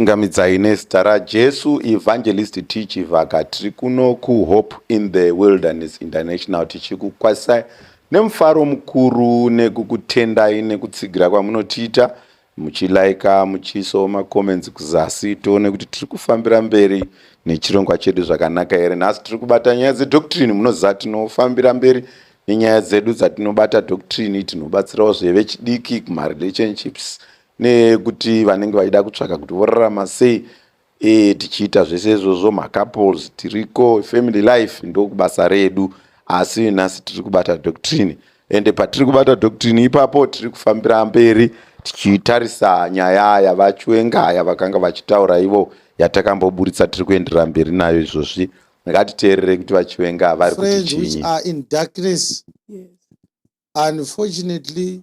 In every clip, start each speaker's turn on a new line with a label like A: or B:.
A: Ngamidzai nezita raJesu Evangelist Tichi Vaka tiri kuno kuHope in the Wilderness International tichikukwasai nemufaro mukuru nekukutendai nekutsigira kwamunotiita muchilaika muchiisawo macomments kuzasi tione kuti tiri kufambira mberi nechirongwa chedu zvakanaka here nhasi tiri kubata nyaya dzedoctrine munoziva tinofambira mberi nenyaya dzedu dzatinobata doctrine tinobatsirawo zvevechidiki kumarelationships nekuti vanenge vaida kutsvaka kuti vorarama sei e, tichiita zvese izvozvo macouples tiriko family life ndokubasa redu asi nhasi tiri kubata doctrine ende patiri kubata doctrine ipapo tiri kufambira mberi tichitarisa nyaya yavachwengaya vakanga vachitaura ivo yatakamboburitsa tiri kuenderera mberi nayo izvozvi ngatiteerere kuti vachiwenga vari kuti chii
B: unfortunately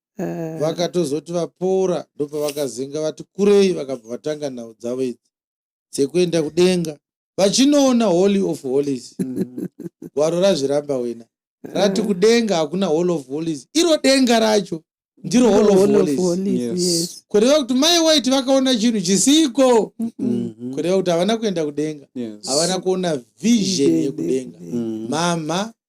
B: eh. vakatozoti vapora ndopavakazenga vati kurei vakabva vatanga nhau dzavo idzi dzekuenda kudenga vachinoona holy of holies mm. gwaro razviramba wena rati eh. kudenga hakuna hall of holies iro denga racho ndiro hall of holies kureva kuti mai waiti vakaona chinhu chisiko mm-hmm. kureva kuti havana kuenda kudenga havana kuona vision yekudenga mm-hmm. mama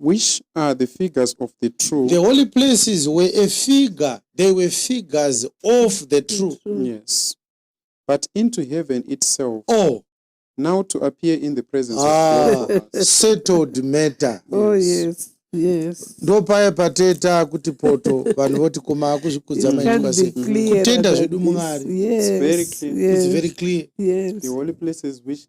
B: which are
C: the figures of the true the holy places
B: were a figure they were figures of the true yes
C: but into heaven itself oh
B: now to
C: appear in the presence ah, of settled
B: matter oh yes
D: yes ndo paye pateta
B: kuti poto vanhu voti koma akuzvikudza maitwa sei kutenda zvedu mwari yes, yes. it's
C: very clear yes
B: the holy
D: places which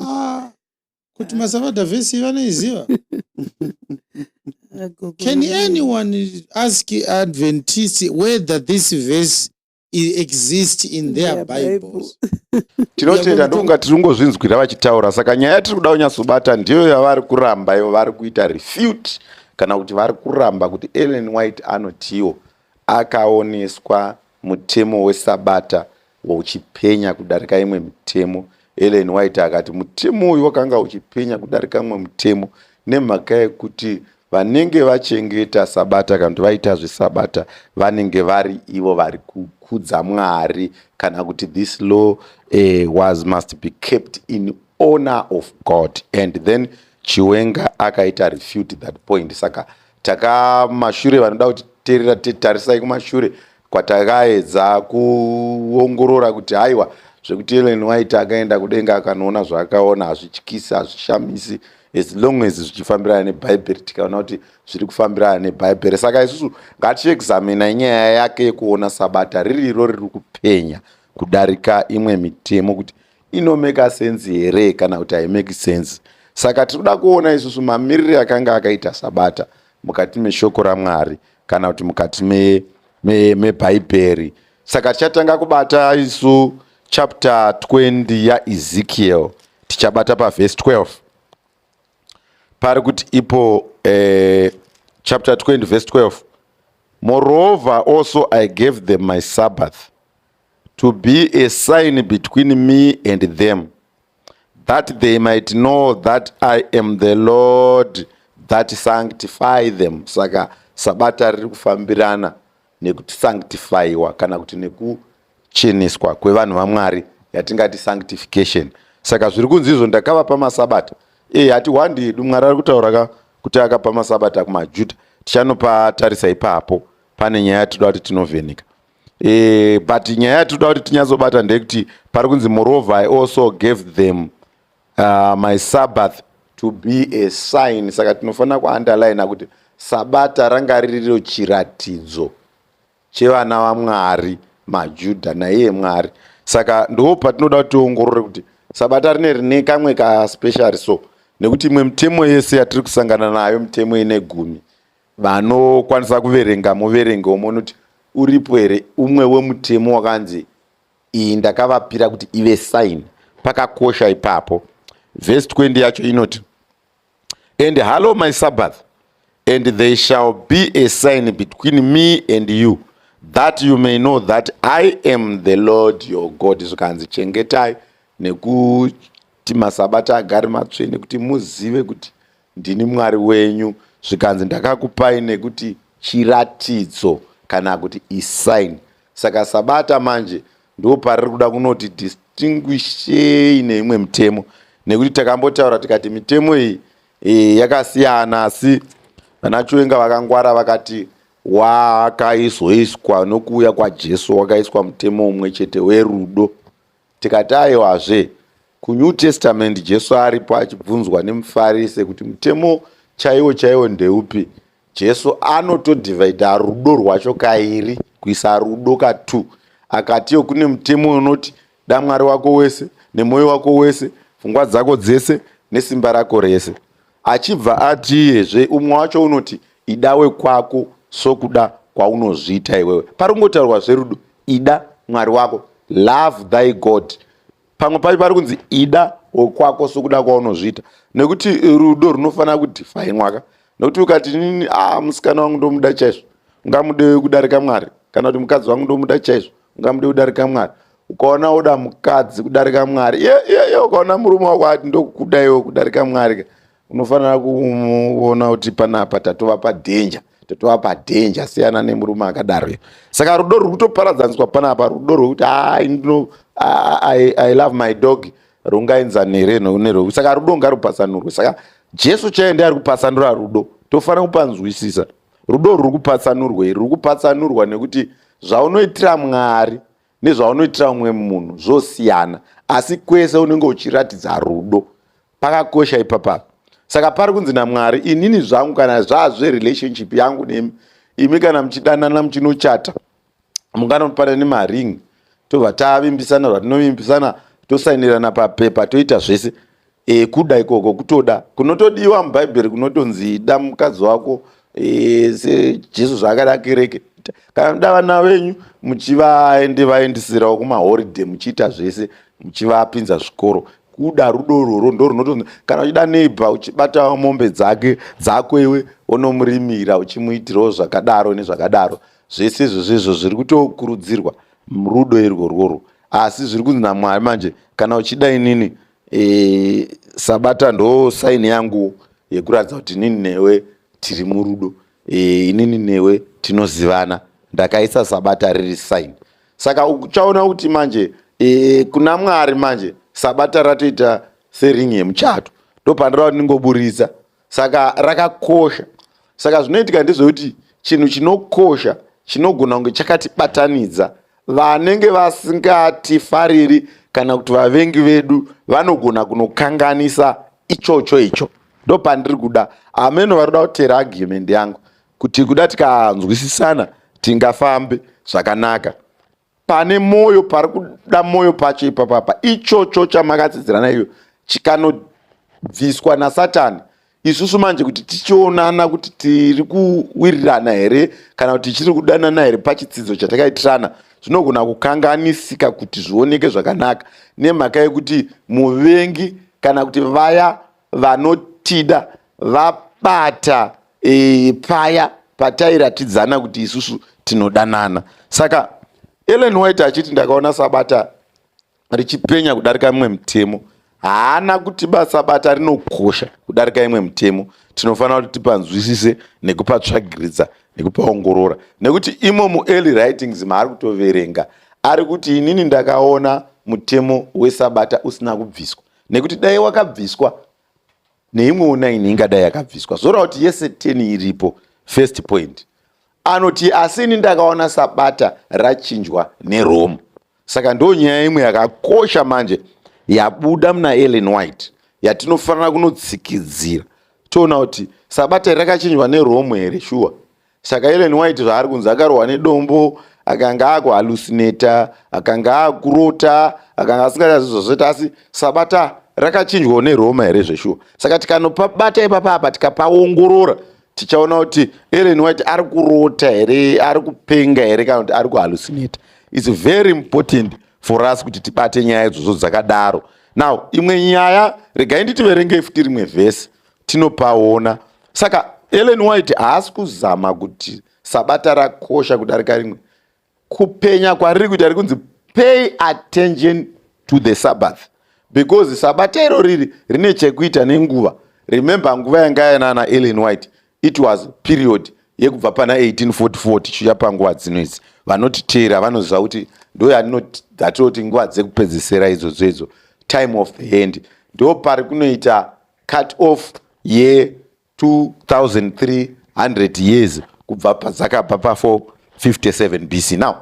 B: ah, kuti masavadha vhesi vanoiziva can anyone ask adventist whether this verse exist in their yeah, bibles tinotenda
A: ndokunga tiri kungozvinzwira vachitaura saka nyaya yatiri kuda kunyatsobata ndiyo yavari kuramba ivo vari kuita refute kana kuti vari kuramba kuti ellen white anotiwo Akaoneswa mutemo weSabata uchipenya kudarika imwe mitemo. Ellen White akati mutemo uyu wakanga uchipenya kudarika mumwe mutemo nemhaka yekuti vanenge vachengeta Sabata kana kuti vaita zveSabata vanenge vari ivo vari kukudza Mwari kana kuti this law eh, was must be kept in honor of God and then Chiwenga akaita refute that point saka takamashure vanoda kuti terera tarisai kumashure kwatakaedza kuongorora kuti haiwa zvekuti ellen white akaenda kudenga akanoona zvaakaona hazvityisi hazvishamisi as long as zvichifambirana nebhaibheri tikaona kuti zviri kufambirana nebhaibheri saka isusu ngatiexamina inyaya yake yekuona sabata riri iro riri kupenya kudarika imwe mitemo kuti inomeka sense here kana kuti haimeki sense saka tiri kuda kuona isusu mamirire akanga akaita sabata mukati meshoko ramwari kana kuti mukati mebhaibheri me, me saka tichatanga kubata isu chapter 20 yaezekiel tichabata pavhesi 12 pari kuti ipo eh, chapter 20 vhesi 12 moreover also i gave them my sabbath to be a sign between me and them that they might know that i am the lord that sanctify them saka sabata riri kufambirana nekuti sanctifyiwa kana kuti nekucheneswa kwevanhu vamwari yatingati sanctification saka zviri kunzi izvo ndakavapa masabata e eh, hati wandi yedu mwari ari kutaura ka kuti akapa masabata kumajuda tichanopatarisa ipapo pane nyaya yatinoda kuti tinovheneka e, but nyaya yatinoda kuti tinyatsobata ndeyekuti pari kunzi moreover i also gave them uh, my sabbath to be a sign saka tinofanira kuunderline kuti sabata ranga ririro chiratidzo chevana vamwari majudha naiye mwari saka ndoo patinoda kuti tiongorore kuti sabata rine rine kamwe kaspecial so nekuti imwe mitemo yese yatiri kusangana nayo mitemo ine gumi vanokwanisa kuverenga muverenge umwe unoti uripo here umwe wemutemo wakanzi iyi ndakavapira kuti ive sign pakakosha ipapo vhesi 20 yacho inoti and hallow my sabbath and they shall be a sign between me and you that you may know that i am the lord your god zvikanzi chengetai nekuti masabata agari matsvene kuti muzive kuti Ndini Mwari wenyu, zvikanzi ndakakupai nekuti chiratidzo kana kuti isign. Saka Sabata manje ndipo pariri kuda kunoti distinguishei neimwe mitemo nekuti takambotaura tikati mitemo iyi e, yakasiyana asi vanachiwenga vakangwara vakati wakaizoiswa nokuuya kwajesu wakaiswa mutemo umwe chete werudo Tikati aiwazve, kuNew Testament Jesu aripo achibvunzwa nemuFarise kuti mutemo chaiwo chaiwo ndeupi, Jesu anotodivhaidha rudo rwacho kairi, kuisa rudo katu. Akatiwo kune mutemo unoti, Da Mwari wako wese, nemwoyo wako wese, pfungwa dzako dzese, nesimba rako rese. Achibva atiyezve umwe wacho unoti ida wekwako sokuda kwaunozviita iwewe. Pari kungotaurwa zverudo, ida Mwari wako, love thy God. Pamwe pacho pari kunzi ida wekwako sokuda kwaunozviita, nekuti rudo runofanira kudifainwaka. Nekuti ukati inini ah, musikana wangu ndomuda chaizvo, ungamude kudarika Mwari, kana kuti mukadzi wangu ndomuda chaizvo, ungamude kudarika Mwari. ukaona oda mukadzi kudarika mwari ye ye ye ukaona murume wako ati ndokuda iwo kudarika mwari ka unofanira kuona kuti panapa tatova padanger tatova padanger siyana nemurume akadaro iyo saka rudo ruri kutoparadzaniswa panapa rudo rwekuti ai ndino I, i love my dog rungaenzani here nerwekuti saka rudo ngarupasanurwe saka jesu chaiye ndiari kupasanura rudo tofanira kupanzwisisa rudo ruri kupatsanurwa iri ruri kupatsanurwa nekuti zvaunoitira mwari nezvaunoitira umwe munhu zvosiyana asi kwese unenge uchiratidza rudo pakakosha ipapa saka pari kunzi namwari inini zvangu kana zvazve relationship yangu nemi imi kana muchidanana muchinochata munganopana nemaring tobva tavimbisana zvatinovimbisana tosainirana papepa toita zvese e, kuda ikoko kutoda kunotodiwa mubhaibheri kunotonzi ida mukadzi wako e, sejesu zvaakada kereke kana kuda vana venyu muchivaende vaendisirawo kumahoride muchiita zvese muchivapinza zvikoro kuda rudo rworo ndo runotonzi kana uchida neighbor uchibatawo mombe dzake dzako iwe onomurimira uchimuitirawo zvakadaro nezvakadaro zvese izvozvo izvo zviri kutokurudzirwa rudo irwo rworwo asi zviri kunzi namwari manje kana uchida inini e, sabata ndo saini yangu yekuratidza kuti inini newe tiri murudo e, inini newe tinozivana ndakaisa sabata riri saini saka uchaona kuti manje e, kuna mwari manje sabata ratoita seringi yemuchato ndopandirava kuti ndingoburitsa saka rakakosha saka zvinoitika ndezvekuti chinhu chinokosha chinogona kunge chakatibatanidza vanenge vasingatifariri kana kuti vavengi vedu vanogona kunokanganisa ichocho icho ndopandiri kuda ameno vari kuda kutera argument yangu kuti kuda tikanzwisisana tingafambe zvakanaka pane moyo pari kuda moyo pacho ipapapa ichocho chamakatsidzirana iyo chikanobviswa nasatani isusu manje kuti tichionana kuti tiri kuwirirana here kana kuti tichiri kudanana here pachitsidzo chatakaitirana zvinogona kukanganisika kuti zvioneke zvakanaka nemhaka yekuti muvengi kana kuti vaya vanotida vabata e, paya patairatidzana kuti isusu tinodanana saka ellen white achiti ndakaona sabata richipenya kudarika imwe mitemo haana kuti basa bata rinokosha kudarika imwe mitemo tinofanira kuti tipanzwisise nekupa tsvagiridza nekupaongorora nekuti imo muearly writings maari kutoverenga ari kuti inini ndakaona mutemo wesabata usina kubviswa nekuti dai wakabviswa neimwewo nine ingadai yakabviswa zvorawa kuti yese ten iripo first point anoti asi ini ndakaona sabata rachinjwa nerome saka ndo nyaya imwe yakakosha manje yabuda muna ellen white yatinofanira kunotsikidzira toona kuti sabata rakachinjwa nerome here shuwa saka ellen white zvaari kunzi akarohwa nedombo akanga akuhalusineta akanga akurota akanga asingachazi zvazveta asi sabata rakachinjwawo neroma here zveshuwa saka tikanopa bata ipapa apa tikapaongorora tichaona kuti ellen white ari kurota here ari kupenga here kana kuti ari kuhalusineta its very important for us kuti tibate nyaya idzodzo dzakadaro now imwe nyaya regai nditiverengei futi rimwe vhesi tinopaona saka ellen white haasi kuzama kuti sabata rakosha kudarika rimwe kupenya kwariri kuita rikunzi pay attention to the sabbath because sabata iro riri rine chekuita nenguva remember nguva yanga yanana ellen white it was period yekubva pana 1844 tichiuya panguva dzino idzi vanotiteera vanoziva kuti ndoyatinoti nguva dzekupedzisira idzodzo idzo time of the hand ndo pari kunoita cut off ye 2300 years kubva padzakabva pa 457 bc now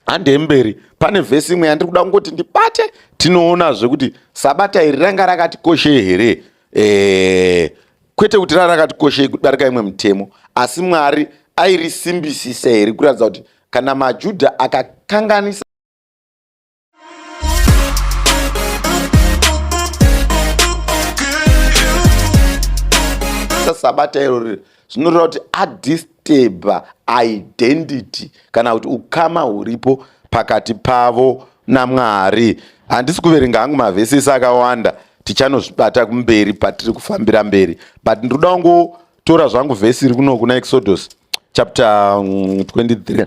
A: handei mberi pane vhesi imwe yandiri kuda kungoti ndibate tinoonazve kuti sabata iri ranga rakatikoshei here eh, kwete kuti ranga rakatikoshei kudarika imwe mutemo asi mwari airisimbisisa here kuratidza kuti kana majudha akakanganisa sabata iro riri zvinoreva kuti adisteba identity kana kuti ukama huripo pakati pavo namwari handisi kuverenga hangu mavhesisi akawanda tichanozvibata kumberi patiri kufambira mberi but ndiri kuda kungotora zvangu vhesi iri kuno kuna exodus chapter 23 mm,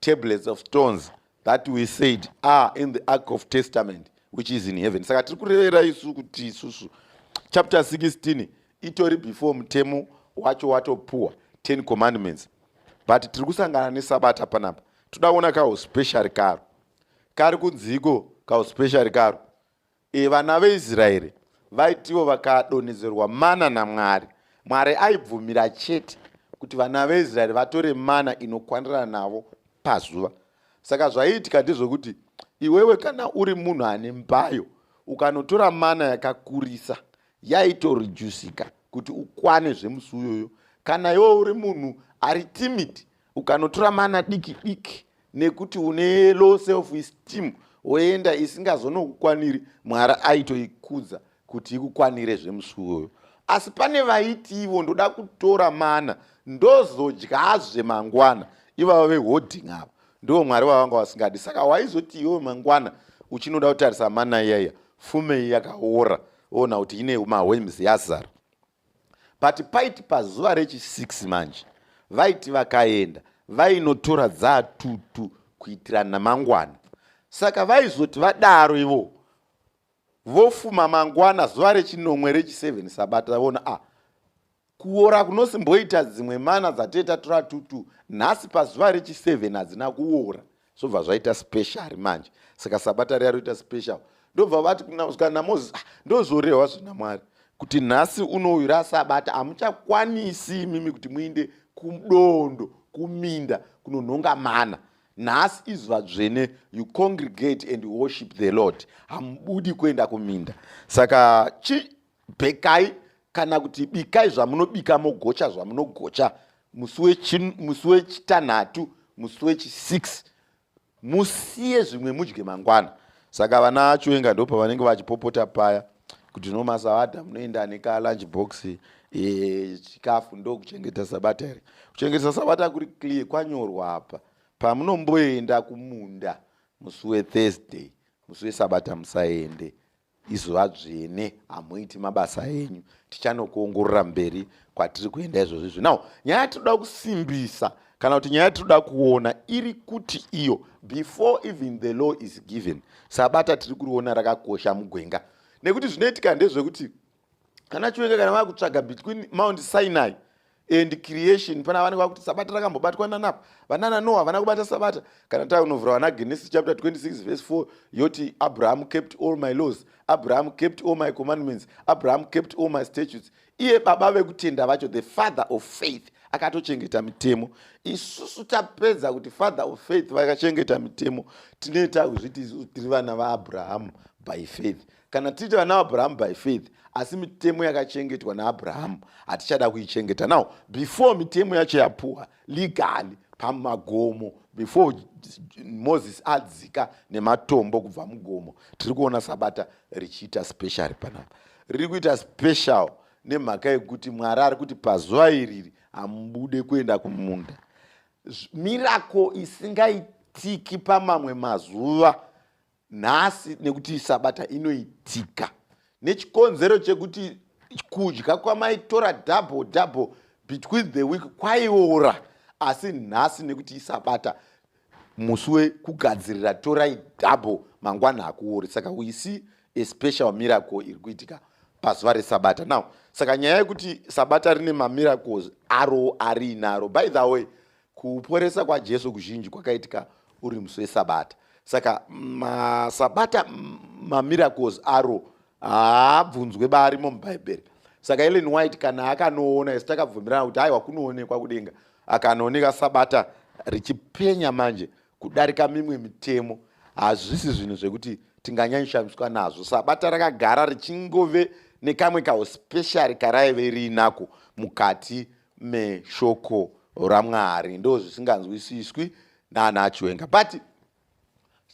A: tablets of stones that we said are in the ark of testament which is in heaven saka tiri kurevera isu kuti isusu chapter 16 itori before mutemo wacho watopuwa 10 commandments but tiri kusangana nesabata panapa toda kuona kauspeciary karo kari kunziiko kauspeciary karo E, vana veIsraeri vaitiwo vakadonhedzerwa mana naMwari. Mwari aibvumira chete kuti vana veIsraeri vatore mana inokwanirana navo pazuva. Saka zvaiitika ndezvokuti iwewe kana uri munhu ane mbayo ukanotora mana yakakurisa yaitorejusika kuti ukwane zvemusi uyoyo. Kana iwewe uri munhu ari timid ukanotora mana diki diki nekuti une low self esteem woenda isingazonokukwaniri mwari aitoikudza kuti ikukwanire zvemusuwoyo asi pane vaiti ivo ndoda kutora mana ndozodyazve mangwana ivava veholding ava ndivo mwari vavanga vasingadi saka waizoti iwe mangwana uchinoda kutarisa mana iyaiya fumei yakaora ona kuti ine mawems yazara but paiti pazuva rechi6 manje vaiti vakaenda vainotora dzatutu kuitira namangwana saka vaizoti vadaro ivo vofuma mangwana zuva rechinomwe rechi7 sabata vona a ah, kuora kunosimboita dzimwe mana dzatee tatora tutu nhasi pazuva rechi7 hadzina kuora zvobva zvaita special manje saka sabata riya roita special ndobva vati kana moses ah, ndozvorehwa zvina mwari kuti nhasi unouyu rasabata hamuchakwanisi imimi kuti muinde kudondo kuminda kunonhonga mana nhasi izuva dzvene you congregate and worship the lord hamubudi kuenda kuminda saka chi bekai kana kuti bikai zvamunobika mogocha zvamunogocha musi wechitanhatu musi wechisix musiye zvimwe mudye mangwana saka vana achiwenga ndo pavanenge vachipopota paya kuti no masavadha munoenda nekalunch box eh, chikafu ndokuchengeta sabata here kuchengetesa sabata kuri clear kwanyorwa apa pamunomboenda kumunda musi wethursday musi wesabata musaende izuva dzvene hamuiti mabasa enyu tichanokuongorora mberi kwatiri kuenda izvozvo izvi now nyaya yatinoda kusimbisa kana kuti nyaya yatinoda kuona iri kuti iyo before even the law is given sabata tiri kuriona rakakosha mugwenga nekuti zvinoitika ndezvekuti kana chiwenge kana vava kutsvaga between mount sinai and creation pana vanenge vakuti sabata rakambobatwa nanapa vanana noa havana kubata sabata kana taunovhura vana genesis chapter 26 verse 4 yoti abraham kept all my laws abraham kept all my commandments abraham kept all my statutes iye baba vekutenda vacho the father of faith akatochengeta mitemo isusu tapedza kuti father of faith vakachengeta mitemo tinoita kuzviti isusu tiri vana vaabrahamu by faith Kana tiri vana vaAbrahamu by faith, asi mitemo yakachengetwa naAbrahamu hatichada kuichengeta. Now, before mitemo yacho yapuwa legally pamagomo, before Moses adzika nematombo kubva mugomo, tiri kuona Sabata richiita special panapa. Riri kuita special nemhaka yekuti Mwari ari kuti pazuva iriri hamubude kuenda kumunda. Mirako isingaitiki pamamwe mazuva nhasi nekuti sabata inoitika nechikonzero chekuti kudya kwamaitora double double between the week kwaiora asi nhasi nekuti isabata musi wekugadzirira torai double mangwana hakuori saka we see a special miracle iri kuitika pazuva resabata now saka nyaya yekuti sabata rine mamiracles aro ariinaro by the way Kuporesa kwaJesu kuzhinji kwakaitika uri musi weSabata. Saka maSabata mamiracles aro haabvunzwe barimo muBhaibheri. Saka Ellen White kana akanoona isu takabvumirana kuti haiwa kunoonekwa kudenga akanooneka Sabata richipenya manje kudarika mimwe mitemo hazvisi zvinhu zvekuti tinganyanyishamiswa nazvo sabata rakagara richingove nekamwe kauspeciary karaive riinako mukati meshoko ramwari ndo zvisinganzwisiswi naana chiwenga but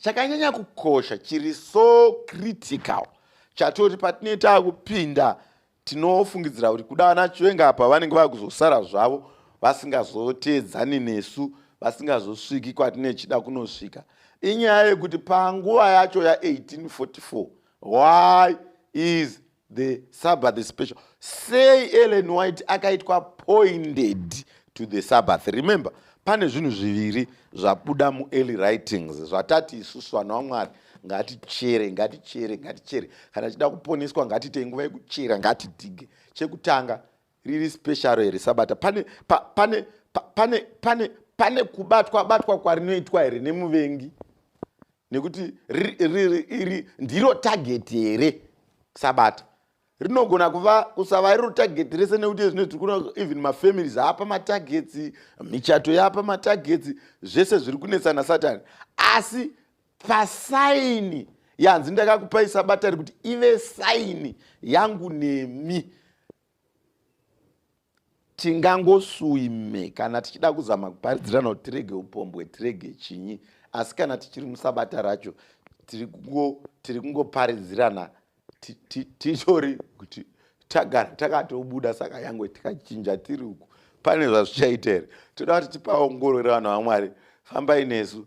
A: chakanyanya kukosha chiri so critical chatoti patinee taakupinda tinofungidzira kuti kuda ana chiwenga apa vanenge vakuzosara zvavo vasingazoteedzani nesu vasingazosviki kwatinechida kunosvika inyaya yekuti panguva yacho ya1844 why is the sabbath is special sei ellen white akaitwa appointed to the sabbath remember pane zvinhu zviviri zvabuda muearly writings zvatati isusu vanhu vamwari ngatichere ngatichere ngatichere kana tichida kuponeswa ngatiitei nguva yekuchera ngatidige chekutanga riri special here sabata pane pane pane pane pane kubatwa batwa kwarinoitwa here nemuvengi nekuti iri ndiro tageti here sabata rinogona kuva kusava iriro tageti rese nekuti ezvino tiri kuona even mafamilies aapa matagetsi michato yaapa matagetsi zvese zviri kunetsana satani asi pasaini yanzi ndakakupai sabata rekuti ive saini yangu nemi tingangosuime kana tichida kuzama kuparidzirana kuti tirege upombwe tirege chinyi asi kana tichiri musabata racho tiri kungoparidzirana titori kuti tagara takatobuda saka yange tikachinja tiri uku pane zvazvichaita here toda kuti tipaongorore vanhu vamwari fambai nesu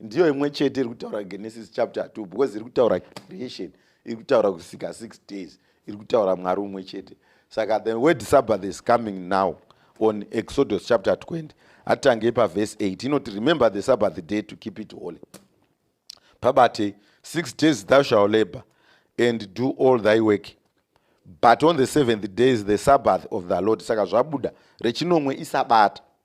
A: ndiyo imwe chete iri kutaura genesis chapter 2 because iri kutaura creation iri kutaura kusika 6 days iri kutaura mwari umwe chete saka the word sabbath is coming now on exodus chapter 20 atangei pavhesi 8 inoti remember the sabbath day to keep it holy pabate six days thou shall labor and do all thy work but on the seventh day is the sabbath of the lord saka zvabuda rechinomwe isabata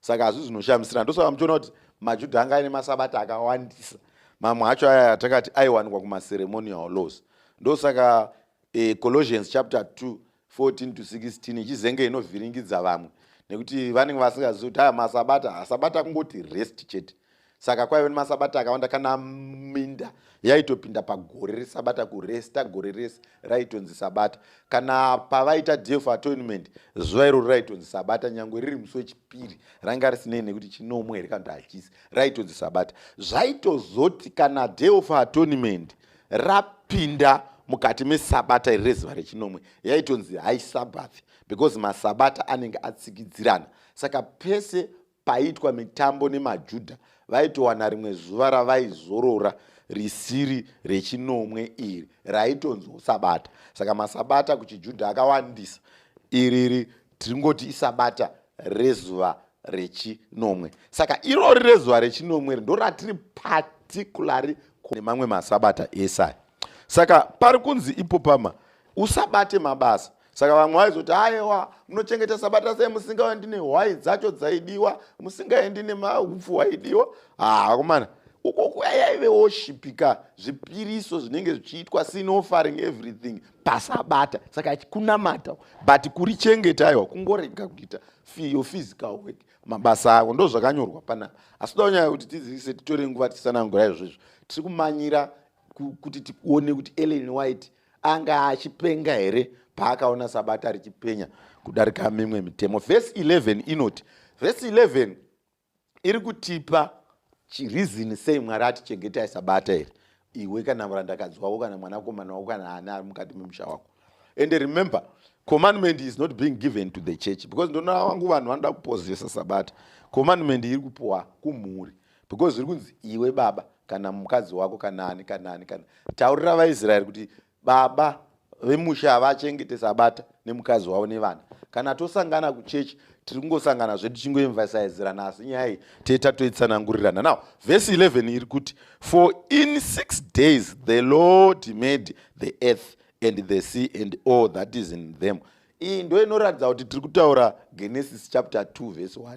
A: saka hazvi zvinoshamisira ndosaka muchiona kuti majudha anga aine masabata akawandisa mamwe acho aya atakati aiwanikwa kumaceremonial laws ndosaka e, colossians chapter 2 14 to 16 ichizenge inovhiringidza vamwe nekuti vanenge vasingazivi kuti aya masabata asabata kungoti rest chete saka kwaive nemasabata akawanda kana minda yaitopinda pagore resabata kuresta gore rese raitonzi sabata kana pavaita day of atonement zuva iroro raitonzi sabata nyange riri musi wechipiri ranga risinei nekuti chinomwe here kana kuti hachisi raitonzi sabata zvaitozoti kana day of atonement rapinda mukati mesabata iri rezuva rechinomwe yaitonzi high sabbath because masabata anenge atsikidzirana saka pese paiitwa mitambo nemajudha vaitowana rimwe zuva ravaizorora risiri rechinomwe iri raitonziwo sabata saka masabata kuchijudha akawandisa iriri tiringoti isabata rezuva rechinomwe saka irori rezuva rechinomwe ri ndoratiri patikulari nemamwe masabata esai saka pari kunzi ipopama usabate mabasa saka vamwe vaizoti ayewa munochengeta sabata sei musingaendi nehwai dzacho dzaidiwa musingaendi nemaupfu hwaidiwa haakomana ah, uko kuya yaive woshipika zvipiriso zvinenge zvichiitwa sin offering everything pasabata saka kunamata but kuri chengeta aiwa kungorega kuita fiyo physical work mabasa avo ndo zvakanyorwa panapa asi toda kunyaya kuti tizivise titore nguva tisanangura izvozvo tiri kumanyira kuti tione kuti ellen white anga achipenga here paakaona sabata richipenya kudarika mimwe mitemo vhesi 11 inoti vhesi 11 iri kutipa chirizini sei mwari atichengetai sabata here iwe kana murandakadzi wako kana mwanakomana wako kana ani ari mukati memusha wako and remember commandment is not being given to the church because ndona wangu vanhu vanoda kupozesa sabata commandment iri kupuwa kumhuri because zviri kunzi iwe baba kana mukadzi wako kana ani kana ani kana taurira vaisraeri kuti baba vemusha havachengete sabata nemukadzi wavo nevana kana tosangana kuchechi tiri kungosangana zvedu chingoemvasaizirana asi nyaya iyi tee tatoitsanangurirana now vhesi 11 iri kuti for in six days the lord made the earth and the sea and all that is in them iyi ndo inoratidza kuti tiri kutaura genesis chapter 2 vhesi 1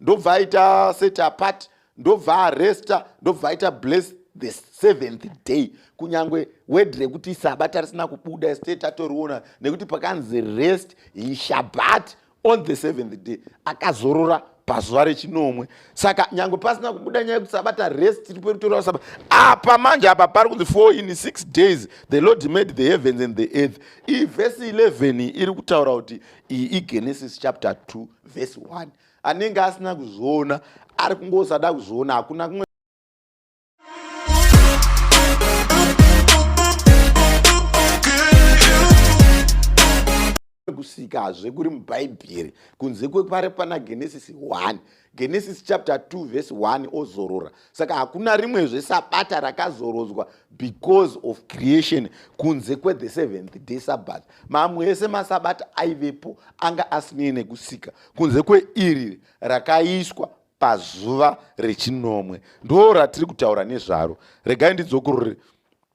A: ndobva aita set apart ndobva aresta ndobva aita bless the seventh day kunyange word rekuti sabata risina kubuda state tatoriona nekuti pakanzi rest he shabat on the seventh day akazorora pazuva rechinomwe saka nyange pasina kubuda nyaya yekuti sabata rest tiri perutorawa sabata apa manje apa pari kunzi four in six days the lord made the heavens and the earth ivhesi 11 iri kutaura kuti iyi igenesis chapter 2 vhesi 1 anenge asina kuzviona ari kungosada kuzviona hakuna kumwe kusika hazve kuri mubhaibheri kunze kwepari pana genesis 1 genesis chapter 2 verse 1 ozorora saka hakuna rimwezve sabata rakazorodzwa because of creation kunze kwethe seventh day sabbath mamwe ese masabata aivepo anga asinei nekusika kunze kweiri rakaiswa pazuva rechinomwe ndo ratiri kutaura nezvaro regai ndidzokorore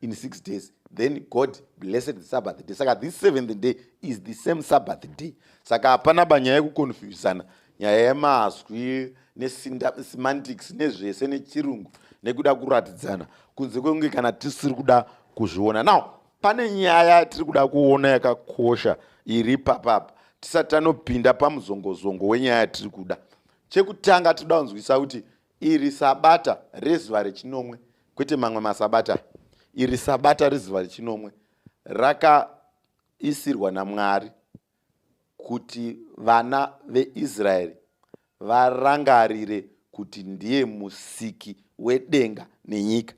A: in six days then god blessed the sabbath day saka this seventh day is the same sabbath day saka hapana banyaya yekuconfusana nyaya yemazwi nesemantics nezvese nechirungu nekuda kuratidzana kunze kwekunge kana tisiri kuda kuzviona now pane nyaya yatiri kuda kuona yakakosha iri papapa tisati tanopinda pamuzongozongo wenyaya yatiri kuda chekutanga tiri kuda kunzwisa kuti Iri sabata rezuva rechinomwe, kwete mamwe masabata. Iri sabata rezuva rechinomwe rakaisirwa naMwari kuti vana veIsraeri varangarire kuti ndiye musiki wedenga nenyika.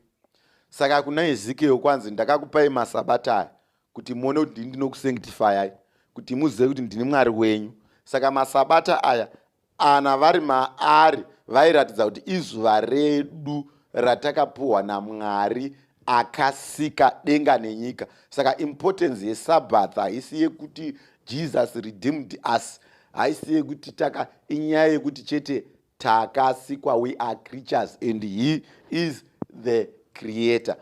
A: Saka kuna Ezekiel kwanzi, ndakakupai masabata aya kuti muone kuti ndini ndinokusanctifyai kuti muzive kuti ndini mwari wenyu saka masabata aya ana vari maari vairatidza kuti izuva redu ratakapuhwa namwari akasika denga nenyika saka importance yesabbath haisi yekuti jesus redeemed us haisi yekuti taka inyaya yekuti chete takasikwa we are creatures and he is the creator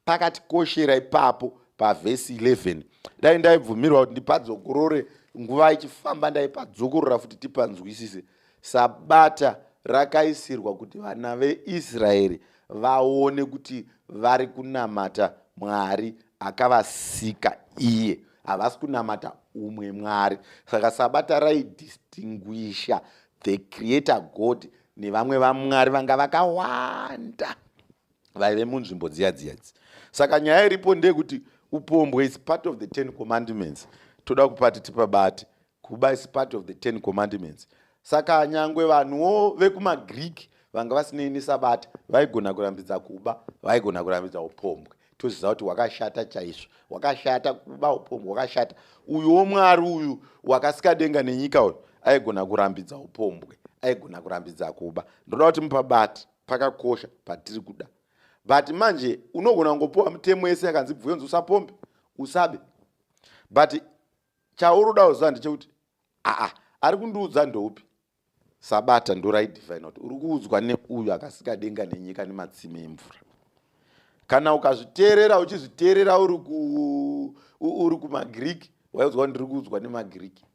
A: pakatikoshera ipapo pavhesi 11 dai ndaibvumirwa kuti ndipadzokorore nguva ichifamba ndaipadzokorora futi tipanzwisise sabata rakaisirwa kuti vana veisraeri vaone kuti vari kunamata mwari akavasika iye havasi kunamata umwe mwari saka sabata raidistinguisha the creator god nevamwe vamwari vanga vakawanda vaive munzvimbo dziya dziya idzi saka nyaya iripo ndeyekuti upombwe is part of the ten commandments toda kupati tipabate kuba is part of the ten commandments saka nyangwe vanhuwo vekumagreek vanga vasinei nesabata vaigona kurambidza kuba vaigona kurambidza upombwe toziva kuti wakashata chaizvo wakashata kuba upombwe wakashata uyuwo mwari uyu wakasika denga nenyika uyu aigona kurambidza upombwe aigona kurambidza kuba ndoda kuti mupabati pakakosha patiri kuda but manje unogona kungopiwa mitemo yese yakanzi bvuyonzi usapombe usabe but chauri uda kuziva ndechekuti aa ari kundiudza ndoupi sabata ndoraidivine kuti uri kuudzwa neuyo akasika denga nenyika nematsime emvura kana ukazviteerera uchizviteerera uri kumagiriki waiudzwa kuti ndiri kuudzwa nemagiriki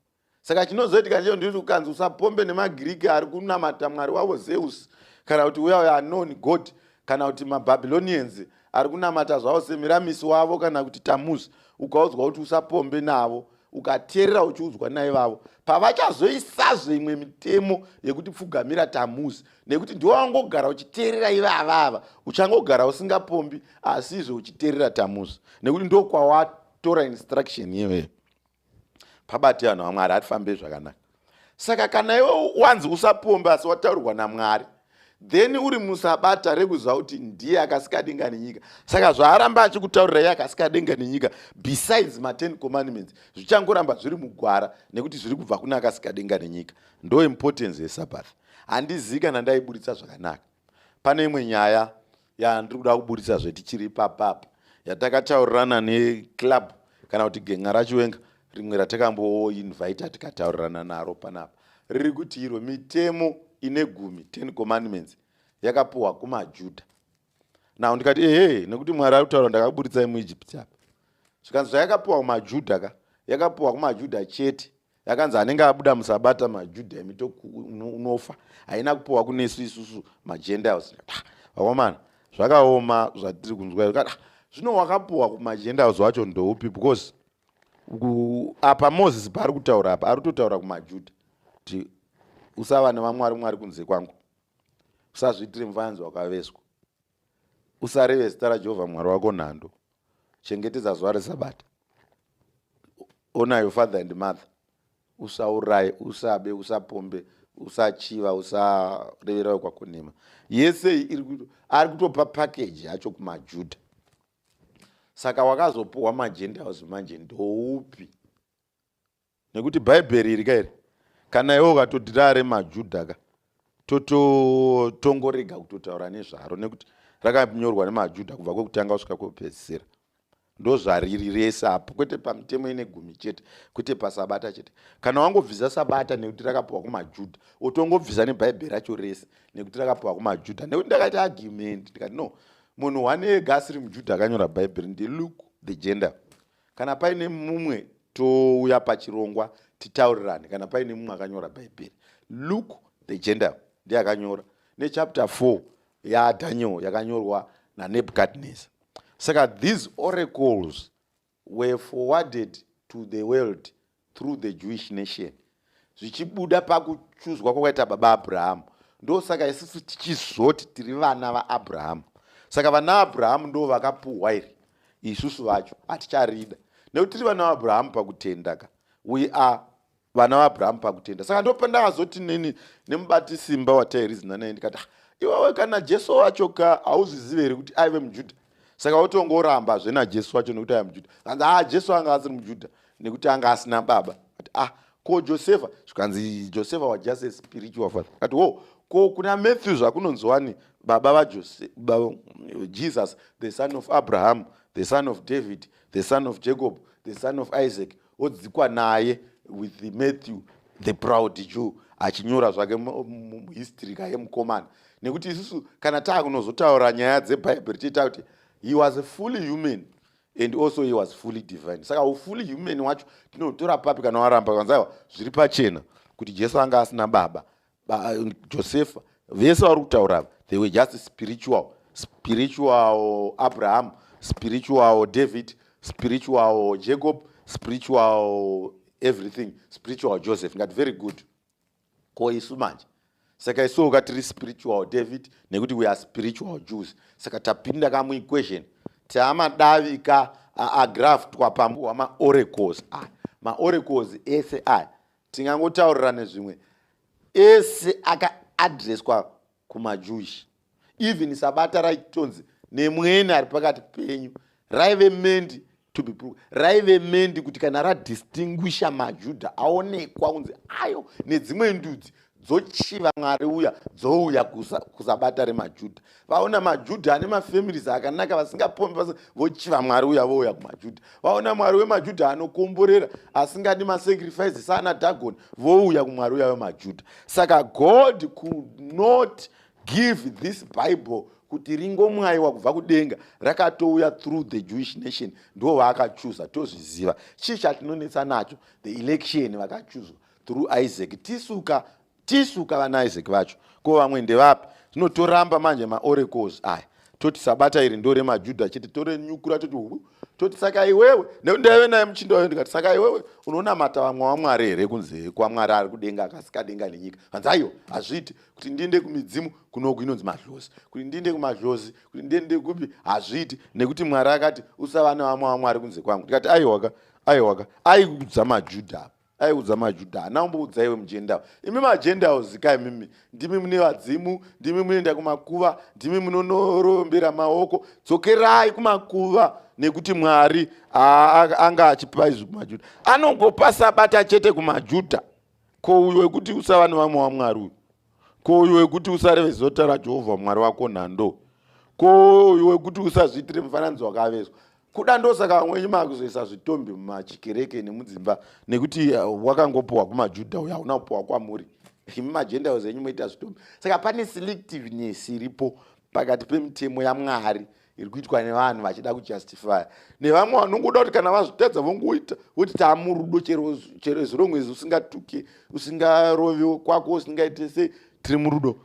A: saka chinozoitika ndecho ndiri kukanzi usapombe nemagiriki ari kunamata mwari wavo zeus kana kuti uya uya anon god kana kuti mababylonians ari kunamata zvavo semiramisi wavo kana kuti tamuz ukaudzwa kuti usapombe navo ukateerera uchiudzwa naivavo pavachazoisazve imwe mitemo yekuti pfugamira tamuzi nekuti ndiwo wangogara uchiteerera ivavava uchangogara usingapombi asizve uchiteerera tamuzi nekuti ndokwawatora instruction iyoyo pabati vanhu vamwari hatifambei zvakanaka saka kana iwe wanzi usapombe asi wataurirwa namwari then uri musabata rekuziva kuti ndiye akasika denga nenyika saka zvaaramba achikutaurira iye akasika denga nenyika besides maten commandments zvichangoramba zviri mugwara nekuti zviri kubva kune akasika denga nenyika ndo importance yesabath handizivi kana ndaiburitsa zvakanaka pane imwe nyaya yandiri kuda kuburitsa zvetichiri papap yatakataurirana neclub kana kuti genga rachiwenga rimwe ratakamboinvita tikataurirana naro panapa riri kuti iro mitemo ine gumi ten commandments yakapuhwa kumajudha now ndikati ehe nekuti mwari ari kutaura ndakaburitsai muegypt apa zvikanzi zvayakapuhwa kumajudha ka yakapuhwa kumajudha chete yakanzi anenge abuda musabata majuda imi unofa haina kupiwa kunesu isusu magendiles ah, vakomana zvakaoma zvatiri kunzwa ah, zvino wakapiwa kumagendiles wacho ndoupi because apa moses paari kutaura apa ari kutotaura kumajuda kuti usava nevamwari mwari kunze kwangu usazviitire mufananidzo wakaveswa usareve zita rajehovha mwari wako nhando chengetedza zuva resabata ona your father and mother usauraye usabe usapombe usachiva usareverawe kwakonema yese iri kuto ari kutopa package yacho kumajuda saka wakazopuhwa magentiles manje ndoupi nekuti bhaibheri iri ka iri kana iwe ukatoti rare majuda ka totongorega kutotaura nezvaro nekuti rakanyorwa nemajuda kubva kwekutanga kusvika kwekupedzisira ndozvariri rese apo kwete pamitemo ine gumi chete kwete pasabata chete kana wangobvisa sabata nekuti rakapiwa kumajuda otongobvisa nebhaibheri racho rese nekuti rakapiwa kumajuda nekuti ndakaita argument ndikati no munhu one ega asiri mujuda akanyora bhaibheri ndeluke the gender kana paine mumwe touya pachirongwa titaurirane kana paine mumwe akanyora bhaibheri luke the gender ndiye akanyora nechapter 4 yadaniel yakanyorwa nanebukadnesa saka these oracles were forwarded to the world through the jewish nation zvichibuda pakuchuzwa kwakaita baba abrahamu ndosaka isusu tichizoti tiri vana vaabrahamu saka vana abrahamu ndo vakapuhwa iri isusu vacho haticharida nekuti tiri vana vaabrahamu pakutenda ka we are vana vaabrahamu pakutenda saka ndopandakazoti nini nemubati simba watairizinanaye ndikati ah, iwewe kana jesu wacho ka hauzvizive here kuti aive mujuda saka wotongoramba zve najesu wacho nekuti aya mujudha kanzi haa jesu anga asiri mujudha nekuti anga asina baba ati ah ko josefa zvikanzi josefa was just a spiritual father ati wo oh, ko kuna matthew zvakunonzwani baba vajesus the son of abraham the son of david the son of jacob the son of isaac odzikwa naye with matthew the proud jew achinyora zvake history kaye mukomana nekuti isusu kana taakunozotaura nyaya dzebhaibheri tiita kuti he was a fully human and also he was fully divine saka ufully human wacho tinotora papi kana waramba kanzaiwa zviri pachena kuti jesu anga asina baba josefa vese vari kutaura ava they were just spiritual spiritual abraham spiritual david spiritual jacob spiritual everything spiritual joseph ngati very good ko isu manje saka isuwo ka tiri spiritual david nekuti we are spiritual jews saka tapinda ka muequation taamadavi ka agraftwa pambu hwamaorecos aya maorecos ese aya tingangotaurirane zvimwe ese akaadreswa kumajewish even sabata raitonzi nemwene ari pakati penyu raive mendi to be proved raive mendi kuti kana radistinguisha majudha aonekwa kunzi ayo nedzimwe ndudzi dzochiva mwari uya dzouya kusabata remajudha vaona majudha ane mafamilies akanaka vasingapombi pas vochiva mwari uya vouya kumajudha vaona mwari wemajudha anokomborera asingadi masacrifice saana dagoni vouya kumwari uya wemajudha saka god could not give this bible kuti ringomwayiwa kubva kudenga rakatouya through the jewish nation ndo vaakachuza tozviziva chii chatinonetsa nacho the election vakachuzwa through isaac tisuka tisu ka vana isaac vacho ko vamwe ndevapi zvino toramba manje maorecos aya toti sabata iri ndore majuda chete torenyukura toti hu toti saka iwewe nekuti ndaive naye muchinda wayo ndikati saka iwewe unonamata vamwe wamwari here kunze kwamwari ari kudenga akasikadenga nenyika hanzi aiwa hazviiti kuti ndiende kumidzimu kunoku inonzi madlozi kuti ndiende kumadlozi kuti ndiende kupi hazviiti nekuti mwari akati usava nevamwe wamwari kunze kwangu ndikati aiwaka aiwaka aikudza majuda apa aiudza majuda hana umboudza iwe mugentile imi magentile zikai mimi ndimi mune vadzimu ndimi munoenda kumakuva ndimi munonorombera maoko dzokerai kumakuva nekuti mwari anga achipa izvi kumajuda anongopasa bata chete kumajuda ko uyo wekuti usava nevamwe wamwari uyu ko uyu wekuti usarevezve zota rajehovha mwari wako nhando ko uyu wekuti usazviitire mufananidzo wakavezwa kuda ndosaka vamwenyu makuzoisa zvitombi mumachikereke nemudzimba nekuti uh, wakangopiwa kumajudha uyo hauna kupiwa kwamuri imi magendaos enyu moita zvitombi saka pane selectiveness iripo pakati pemitemo yamwari iri kuitwa nevanhu vachida kujustifya nevamwe vanongoda kuti kana vazvitadza vongoita voti taamurudo chero zirongwezi usingatuke usingarovi kwako usingaite sei tiri murudo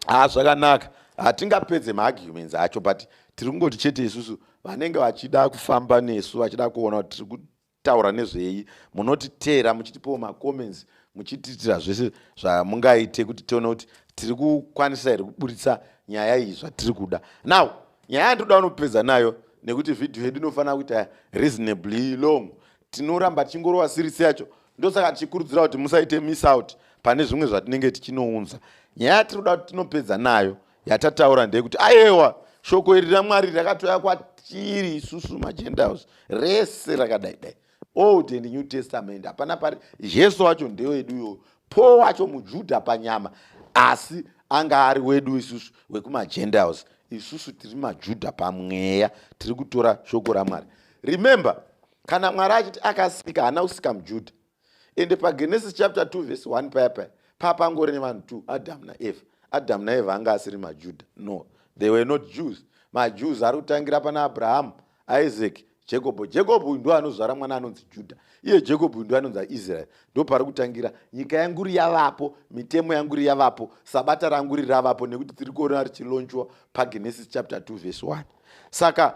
A: haa zvakanaka hatingapedze maarguments acho but tiri kungoti chete isusu vanenge vachida kufamba nesu vachida kuona kuti tiri taura nezvei munoti teera muchitipawo macomments muchitiitira zvese zvamungaite kuti tione kuti tiri kukwanisa here kuburitsa nyaya iyi zvatiri kuda now nyaya yandinoda unopedza nayo nekuti vhidhiyo yedu inofanira kuita reasonably long tinoramba tichingorova sirisi yacho ndosaka tichikurudzira kuti musaite miss out pane zvimwe zvatinenge tichinounza nyaya yatiri kuda kuti tinopedza nayo yatataura ndeyekuti ayewa shoko iri ramwari rakatouya kwatiri isusu magentiles rese rakadai dai old and new testament hapana pari jesu wacho ndewedu iyoyo paul wacho mujudha panyama asi anga ari wedu isusu wekumagentiles isusu tiri majudha pamweya tiri kutora shoko ramwari remember kana mwari achiti akasika haana kusika mujudha ende pagenesis chapter 2 vhesi 1 paya paya paa pangori nevanhu 2 adamu naeva adamu naeva anga asiri majuda no they were not jews majews ari kutangira pana abrahamu isaac jekobho jekobho uyu ndoanozvara mwana anonzi judha iye jekobho uyu ndoanonzi aisraeri ndopari kutangira nyika yanguri yavapo mitemo yanguri yavapo sabata ranguri ravapo nekuti tiri kuona richilonchwa pagenesis chapter 2 vhesi 1 saka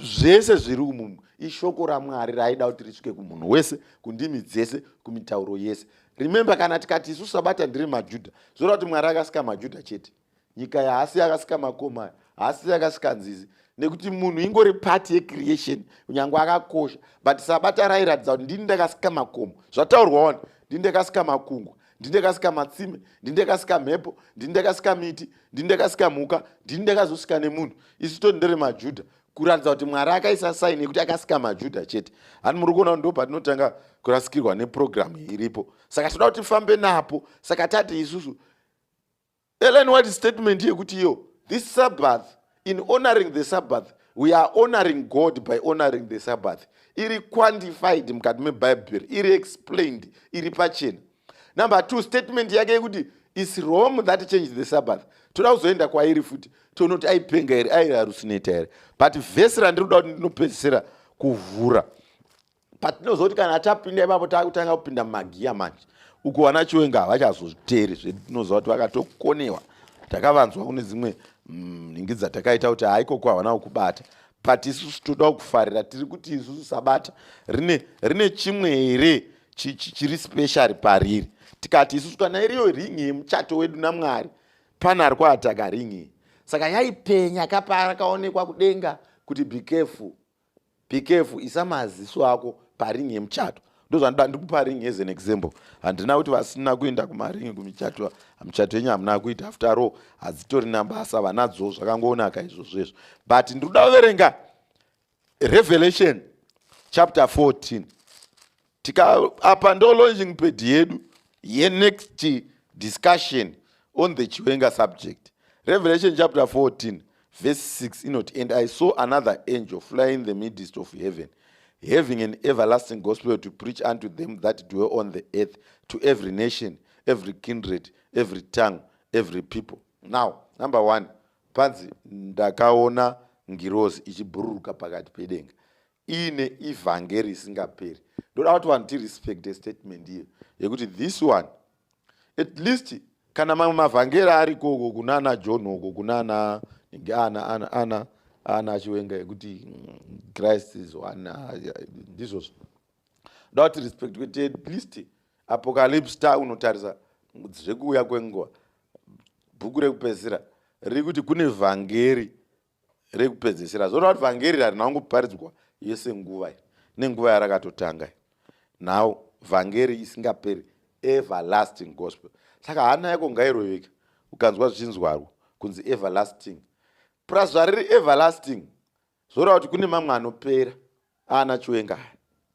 A: zvese zviri umu ishoko ramwari raaida kuti risvike kumunhu wese kundimi dzese kumitauro yese remembe kana tikati isu sabata ndiri majudha zvoreva kuti mwari akasika majudha chete nyika yaasi yakasika makoma haasi yakasika nzizi nekuti munhu ingori part yecreation kunyange akakosha but sabata rairatidza kuti ndini ndakasika makomo zvataurwa wani ndini ndakasika makungwa ndindekasika matsime ndindekasika mhepo ndindekasika miti ndindekasika mhuka ndindekazosika nemunhu isu toti ndere majudha kuratidza kuti mwari akaisa saini yekuti akasika majudha chete hani muri kuona ndo patinotanga kurasikirwa nepurogiramu iripo saka tinoda kuti tifambe napo saka tati isusu Ellen White statement yekuti iyo this sabbath in honoring the sabbath we are honoring god by honoring the sabbath iri quantified mukati mebhaibheri iri explained iri pachena number two statement yake yekuti is rome that change the sabbath toda kuzoenda kwairi futi tonoti aipenga here airi harusineta here but vhesi randiri kuda kuti ndinopedzisira kuvhura patinozoti kana tapinda ipapo takutanga kupinda mumagiya manje uko vana chiwenga havachazozviteeri zvetinoziva kuti vakatokonewa takavanzwa kune dzimwe mm, nhingi dzatakaita kuti haikoko havana kukubata but isusu toda kukufarira tiri kuti isusu sabata rine, rine chimwe here chiri special pariri tikati isusu kana iriyo ringi yemuchato wedu namwari pane ari kuataka ringi saka yaipenya kapara kaonekwa kudenga kuti be careful be careful isa maziso ako paring yemuchato ndozvandida ndikupa ring as an example handina kuti vasina kuenda kumaring kumichato michato yenyu hamuna kuita after all hadzitori nabasa vanadzo zvakangonaka izvozvo izvo but ndiri kuda kuverenga revelation chapter 14 tika apa ndo launching pad yedu yenext discussion on the chiwenga subject revelation chapter 14 verse 6 inoti and i saw another angel flying the midst of heaven having an everlasting gospel to preach unto them that dwell on the earth to every nation every kindred every tongue every people now number one panzi ndakaona ngirozi ichibhururuka pakati pedenga iine evhangeri isingaperi ndoda kuti vanhu tirespecte statement iyo yekuti this one at least kana mamwe mavhangeri ariko uko kunana john uko kunana ana ana ana ana achiwenga yekuti mm, christ is one ah, ndizvozvo ndoda kuti respect kuti at least apocalypse ta unotarisa zvekuuya kwenguva bhuku rekupedzisira riri kuti kune vhangeri rekupedzesera zvoreva kuti vhangeri harina kungoparidzwa yese nguva iyi nenguva yarakatotanga now vhangeri isingaperi everlasting gospel saka hana yako ngairoveka ukanzwa zvichinzwarwo kunzi everlasting plus zvariri everlasting zvoreva kuti kune mamwe anopera ana chiwenga aya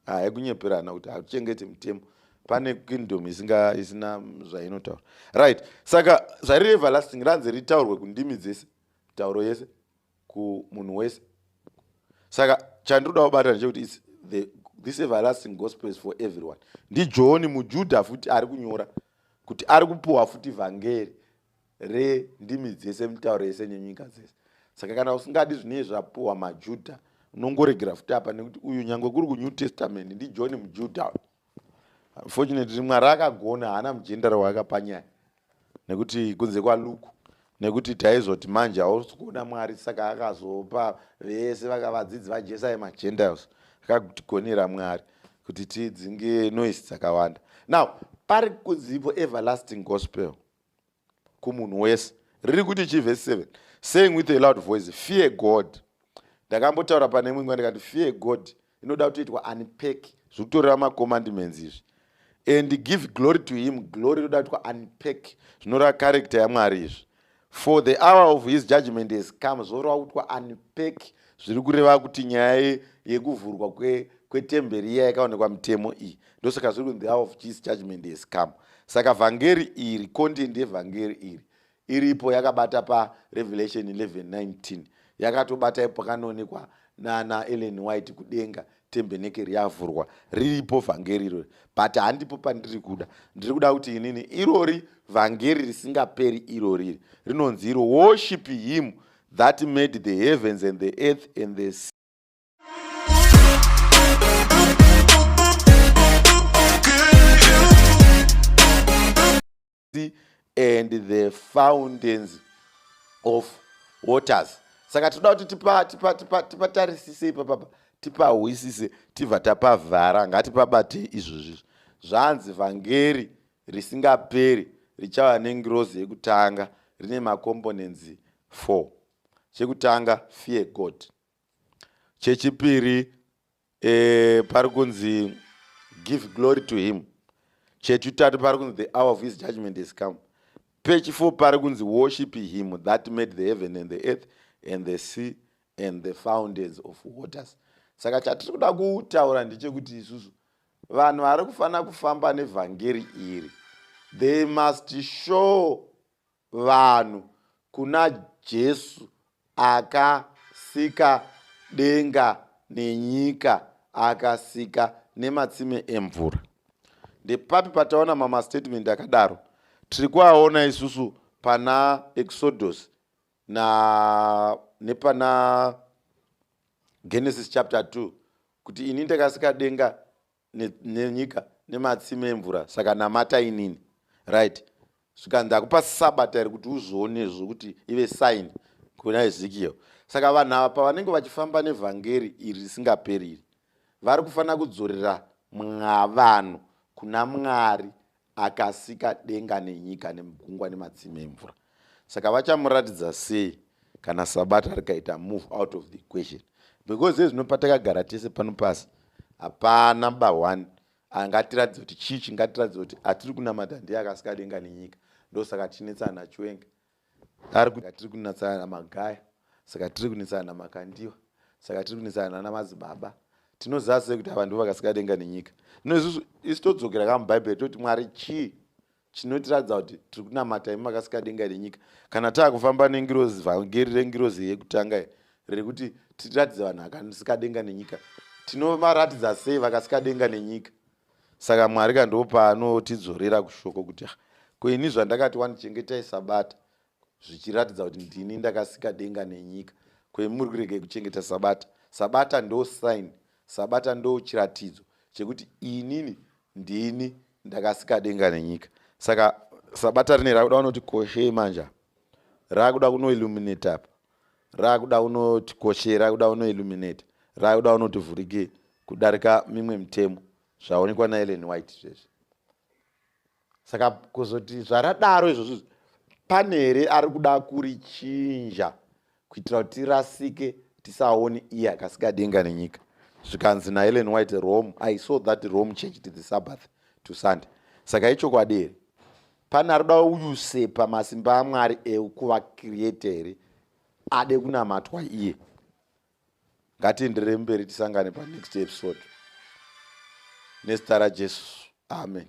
A: aya kunyeperana kuti hatichengete mutemo pane kingdom isinga isina zvainotaura right saka zvari everlasting ranzi ritaurwe kundimi dzese tauro yese kumunhu wese saka chandinoda kubata ndechekuti is the this everlasting gospel is for everyone ndijoni mujudha futi ari kunyora kuti ari kupuhwa futi vhangeri rendimi dzese mitauro yese nenyika dzese saka kana usingadi zvinei zvapuwa majudha unongoregera futi apa nekuti uyu nyange kuri kunew testament ndijohn mujudha unfortunately mwari akagona haana mujendara waakapanyaya nekuti kunze kwaluku nekuti taizoti manje hausi kuona mwari saka akazopa vese vakavadzidzi vajesu aye magentiles akatigonera mwari kuti tidzinge noise dzakawanda now pari kunzipo everlasting gospel kumunhu wese riri kuti chii vhesi 7 saying with a loud voice fear god ndakambotaura pane imwe nguva ndikati fear god inoda kutoitwa unpack zviri kutoreva macommandments izvi and give glory to him glory inoda kuitwa unpack zvinoreva character yamwari izvi for the hour of his judgment has come zvoreva kutwa unpack zviri kureva kuti nyaya yekuvhurwa kwetemberi iya yakaonekwa mitemo iyi ndosaka zviri kunzi the hour of jesus judgment has come saka vhangeri iri content yevhangeri iri iripo yakabata parevelation 1119 yakatobata ipo pakanoonekwa nana ellen white kudenga tembenekeri yavhurwa riripo vhangeri irori but handipo pandiri kuda ndiri kuda kuti inini irori vhangeri risingaperi iroriri rinonzi iro worship him that made the heavens and the earth and the sea and the fountains of waters saka tinoda kuti tipatarisise ipa papa tipahwisise tibva tapavhara ngatipabatei izvozvizvo zvanzi vhangeri risingaperi richava nengirozi yekutanga rine macomponents four chekutanga fear god chechipiri eh, pari kunzi give glory to him chechitatu pari kunzi the hour of his judgment is come pechifo pari kunzi worship him that made the heaven and the earth and the sea and the fountains of waters saka chatiri kuda kutaura ndechekuti isusu vanhu vari kufanira kufamba nevhangeri iri they must show vanhu kuna Jesu akasika denga nenyika akasika nematsime emvura. Ndepapi pataona mamastatement akadaro? Tiri kuaona isusu pana Exodus na nepana Genesis chapter 2 kuti ini ndakasika denga nenyika nematsime emvura saka namata inini right zvikanzi akupa sabata iri kuti uzvione zvokuti ive sign kuna ezekiel saka vanhu ava pavanenge vachifamba nevhangeri iri risingaperiri vari kufanira kudzorera mwavanhu kuna mwari akasika denga nenyika nemugungwa nematsime emvura saka vachamuratidza sei kana sabata rikaita move out of the equation because ezvino patakagara tese pano pasi hapana bahwani angatiratidza kuti chii chingatiratidza kuti atiri kunamata ndiye akasika denga nenyika ndosaka tichinetsana chiwenga ari kuti tiri kunetsana namagaya saka tiri kunetsana namakandiwa saka tiri kunetsana nana madzibaba tinoziva sei kuti ava ndivo vakasika denga nenyika no isusu isu todzokera ka mubhaibheri toti mwari chii chinotiratidza kuti tiri kunamata imi makasika denga nenyika kana taa kufamba nengirozi vhangeri rengirozi yekutanga riri kuti tiratidze vanhu akasika denga nenyika tinovaratidza sei vakasika denga nenyika saka mwari ka ndo paanotidzorera kushoko kuti ah, ko ini zvandakati wandichengetai sabata zvichiratidza kuti ndini ndakasika denga nenyika ko imi muri kuregei kuchengeta sabata sabata ndo sign sabata ndo chiratidzo chekuti inini ndini ndakasika denga nenyika saka sabata rine rakuda vanoti koshei manja rakuda kunoilluminate apa rakuda unotikoshera rakuda unoilluminate rakuda unotivhurike kudarika mimwe mitemo zvaonekwa naelen white zvezvi saka kuzoti zvaradaro izvozvo pane here ari kuda kurichinja kuitira kuti tirasike tisaone iye akasika denga nenyika zvikanzi naelen white rome i saw that rome changed the sabbath to sunday saka ichokwadi here pane ari kuda uyusepa masimba amwari ekuva create here ade kunamatwa iye ngatienderere mberi tisangane panext episode nezita rajesu amen